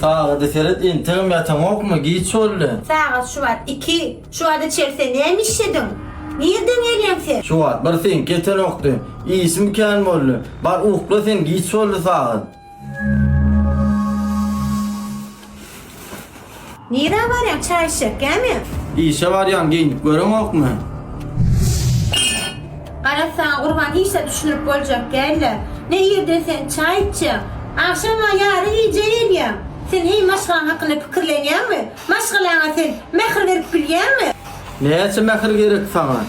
Sagada seret entegem ýataňokmy giç boldy. Sagat şuwagt iki. Şuwagt içeri sen näme işlediň? Nirden gelýäň sen? Şuwagt bir seňki ýetenokdy. Işim kän boldy. Bar ukla sen giç boldy sagat. Nirä barýaň, çaý içjek, gämi? Işe barýan, geýnip göreňokmy? Garaz saňa gurban, hiç zat düşündirip boljak däl-le. Ne irden sen çaý içýäň? Agşam-a ýarym gije gelýäň. Sen heý maşgalaň hakynda pikirlenýäňmi? Maşgalaňa sen mähir berip bilýäňmi? Näçe mähir gerek saňa?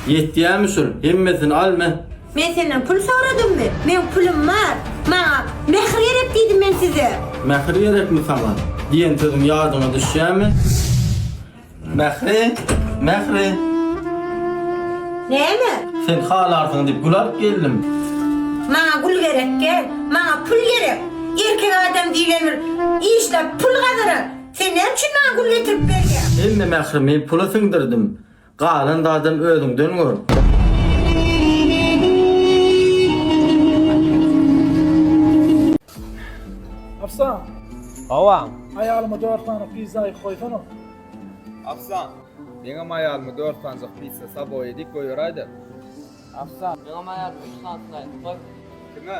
Ýetýämi şul? Hemmesini al, me. Men senden pul soradymmy? Meň pulum bar. Maňa Mähir gerek diýdim men size. Mähir gerekmi saňa? Diýen sözüň ýadyňa düşýärmi? Mähri! Mähri! Näme? Sen halarsyň diýip gül alyp geldim. Maňa gül gerek däl. Maňa pul gerek. Erkek adam diýlen bir işläp pul gazanar. Sen näme üçin maňa gül getirip berýäň? Hemme mährimi pula siňdirdim. Galan zadam özüňden gör. Afsan. Hawa. Aýalyma 4 sany pizza aýyp goýsana. Afsan. Meňem aýalyma 4 sanjyk pizza saboýa edip goýaraýda. Afsan. Meňem aýalyma 3 sany slaýd goý. Kime?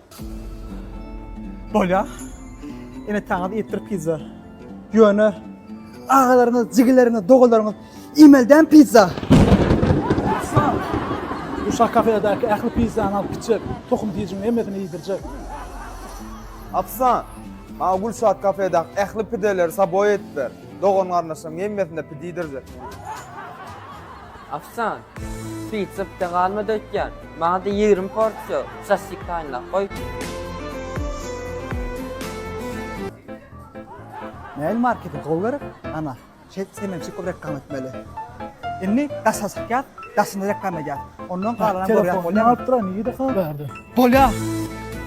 Bolýa. Ene taňyz etdir pizza. Ýöne agalaryňyz, jigileriňiz, dogalaryňyz imelden pizza. Bu şah kafedäki ähli pizzany alyp gitjek. Tohum diýjiň hemmesini iýdirjek. Apsa, maňa gül şah kafedäki ähli pideleri saboý etip ber. Dogan-garyndaşlaryň hemmesine pide iýdirjek. Ofsiant, Pitsapda galma dötýän, maňa-da ýigrimi porsiýa sosisik taýynlap goý. Mail marketing gowy gerek? Ana, şeýdip sen meni çykyp reklama etmeli. Indi daşa çykýas, daşynda reklama edýäs. Ondan galanam görýäs bolýamy? Telefonymy alyp durany ýa-da habar berdi. Bolýa.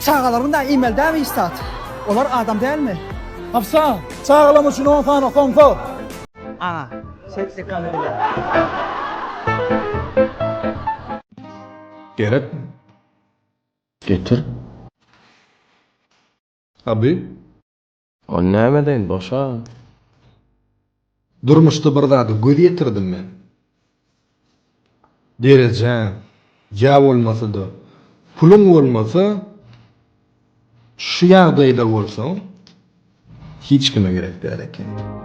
Çagalaryň da email dämi iş zat. Olar adam dälmi? Ofsiant, çagalam üçin on sany somsa! Ana, Gerek getir. Aby. Ol näme deýin boşa. Durmuşda bir zada göz ýetirdim men. derejäň ýa bolmasa-da puluň bolmasa, şu ýagdaýda bolsaň, hiç kime gerek däl ekeniň.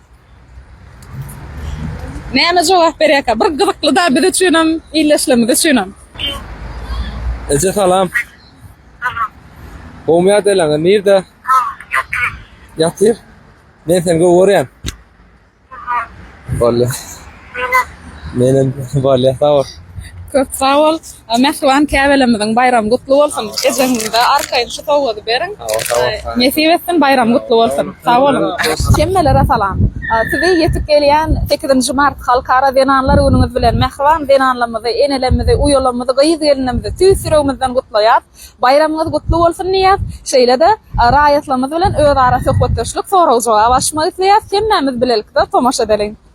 Näme jogap berýärka bir gyzyklyda biz üçinem illeşlemz üçinem. Eje salam. Salam. Gowmy ýagdaýlaň nirde? Ýatyr. Men seni gowy görýän. Bolýa. Menem bolýa sag bol. Köp sag bol. Mähriban käbelemiziň baýramy gutly bolsun. Ejeňize arkaýyn şu sowgady beriň. Nesip etsin baýramy gutly bolsun. Sag boluň. Hemmelere salam. Sizi ýetip gelýän sekizinji mart Halkara zenanlar günüňiz bilen mähriban zenanlamyzy, enelemmizi, uýalamyzy, gyz gelinimizi tüýs ýüregimizden gutlaýas. Baýramyňyz gutly bolsun diýýäs. Şeýle-de raýatlarymyz bilen özara söhbetdeşlik, sorag-jogap alyşmak isleýäs. Hemmämiz bilelikde tomaşa edeliň.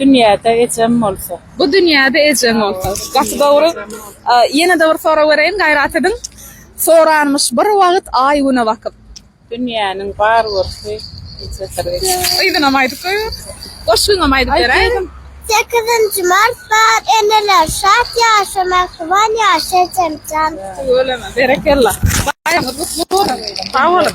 Dünýäde ejem bolsa. Bu dünýäde ejem bolsa. Gaty dogry. Ýene-de bir sorag bereýin, gaýrat ediň. Soranmyş bir wagt aý-güne bakyp. Dünýäniň bar görki ejesirek. Yzynam aýdyp goýber. Goşgyňam aýdyp beräýiň. Sekizinji mart bar eneler şat ýaşa mähriban ýaşa ejemjan. Tüweleme berekella. Baýramyňyz gutly bolsun. Sag boluň.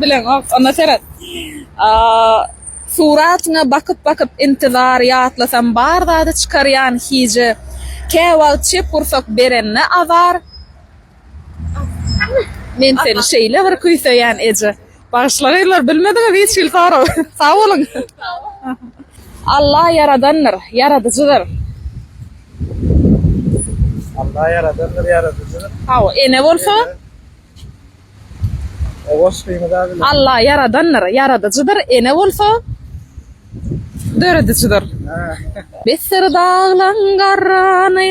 Bileňok, onda seret. Suratyňa bakyp-bakyp intizar, ýatlasam bar zady çykarýan hije. Käwagt çep gursak berende azar. Men seni şeýle bir küýseýän eje. Bagyşla gyzlar bilmediňiz hiç hili sorag. Sag boluň. Allah ýaradandyr, ýaradyjydyr. Allah ýaradandyr, ýaradyjydyr. Hawa, ene bolsa? O goşgyny da bilen. Allah ýaradandyr, ýaradyjydyr, ene bolsa? Döredijidir. Bessir daglaň garrany,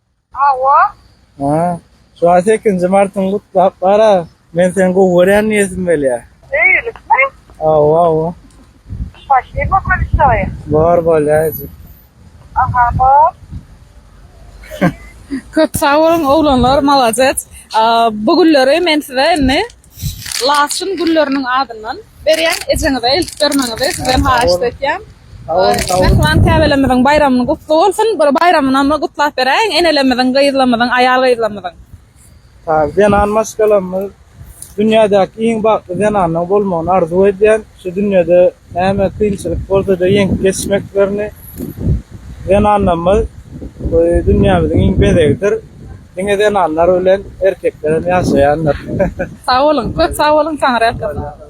Hawa. Ha. Şu aý sekizinji martyňy gutlap bar-a. Men seni gowy görýän diýesim gelýär. Öýlükmi? Hawa, hawa. Spassiba bolşoýa. Bar bolýajyk. Aha, bar. Köp sag boluň, oglanlar, malades. Bu günleri men size indi. Laçyn gülleriniň adyndan berýän ejeňize eltip bermegiňizi sizden haýyşt etýän. Mähriban käbelerimiziň baýramyny gutly bolsun. Bir baýramynam gutlap beräýiň enelerimiziň, gyzlarymyzyň, aýal gyzlarymyzyň. Zenan maşgalamyz dünýädäki iň bagtly zenanyň bolmagyny arzuw edýän. şu dünýede näme kynçylyk bolsa-da ýeňip geçmeklerini zenanlarymyz bu dünýämiziň iň bezegidir. Diňe zenanlar bilen erkeklerem ýaşaýandyr. Sag boluň, köp sag boluň Taňry ýalkasyn.